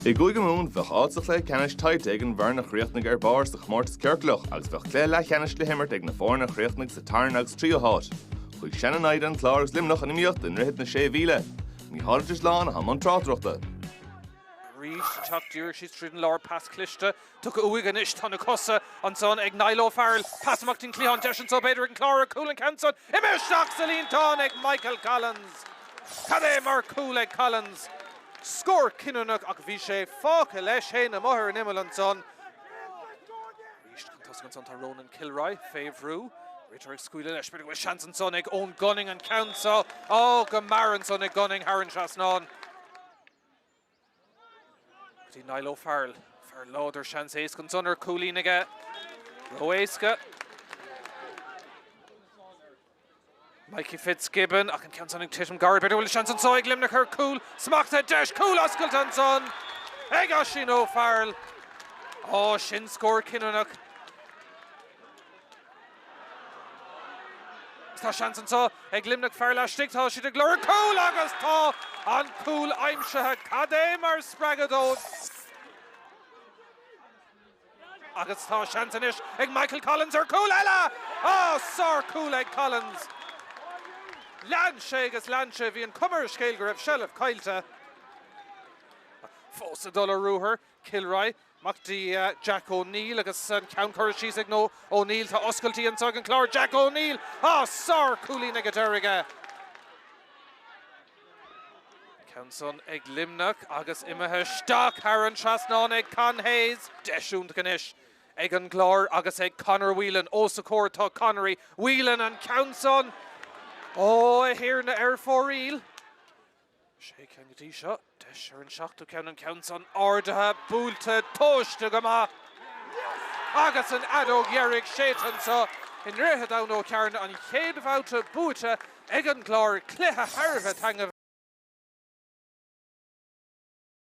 I gCúige Mumhan, bheadh áit sa chluiche ceannais tuillte ag an bhfoireann a chríochnaigh ar barr sa chomórtas ciorclach agus bheadh cluiche leathcheannais le himirt ag na foirne a chríochnaigh sa tarna agus tríú háit. Chuige sin a bhí an Clár agus Luimneach in iomaíocht i nDroichead na Sé Mhíle. Ní háirid a shlá ná i mbun tráchtaireachta. Arís, teacht díreach síos tríd an lár, pas cliste Tugtha uaidh anois. Tá na cosa ansan ag Niall O'Farrell. Pas amach dtín cliathán deis anso b'fhéidir ag an Clár ar chúl an cheann san. Imithe isteach sa líontán ag Michael Collins. Cad é mar chúl ag Collins! Scór cinniúnach ach bhí sé fágtha leis fhéin amuigh ar an imeall ansan. Arís chun tosaigh ansan tá Ronan Kilroy fé bhrú. Ritter ag scaoileadh leis. B'fhéidir go bhfuil seans ansan ag Eoghan Gunning an ceann san. Ó go mear ansan ag Gunning thar an trasnán. Go dtí Niall O'Farrell. Fear láidir, seans éasca ansan ar cúilín aige. Ró-éasca. Mikey Fitzgibbon, ach an ceann san ag titim gairid b'fhéidir go bhfuil seans anso ag Luimneach ar cúl. Smachtaithe deis cúl oscailte ansan ag Oisín O'Farrell. Á, sin scór cinniúnach. Tá seans anso ag Luimneach fear laistigh, tá siad ag lorg cúl agus tá an cúl aimsithe. Cad é mar spreagadh dóibh! Agus tá seans anois ag Michael Collins ar chúl eile! Á, sárchúl ag Collins! Lean sé agus lean sé, bhí an chuma ar an scéal go raibh seilbh caillte. Fós ag dul ar ruathar, Kilroy, amach go dtí Jack O'Neill agus an ceann curtha síos ag O'Neill. Tá oscailtí anso ag an Clár. Jack O'Neill! Á! Sár-chúilín ag an deireadh aige. An ceann san ag Luimneach agus imithe isteach thar an trasnán ag Con Hayes. Deis iontach anois ag an gClár agus ag Conor Whelan. Os a chomhair atá Conor. Whelan, an ceann san! Ó, a Thiarna, ar fóraoil! Sé ceann go dtí seo. Deis ar an seachtú ceann, an ceann san. Ardaithe, buailte, tomhaiste go maith. Agus an fheadóg dheiridh séidte anso i nDroichead Abhann Ó gCearnaigh, an chéad bhabhta buaite ag an gClár, cluiche thar a bheith taitneamhach.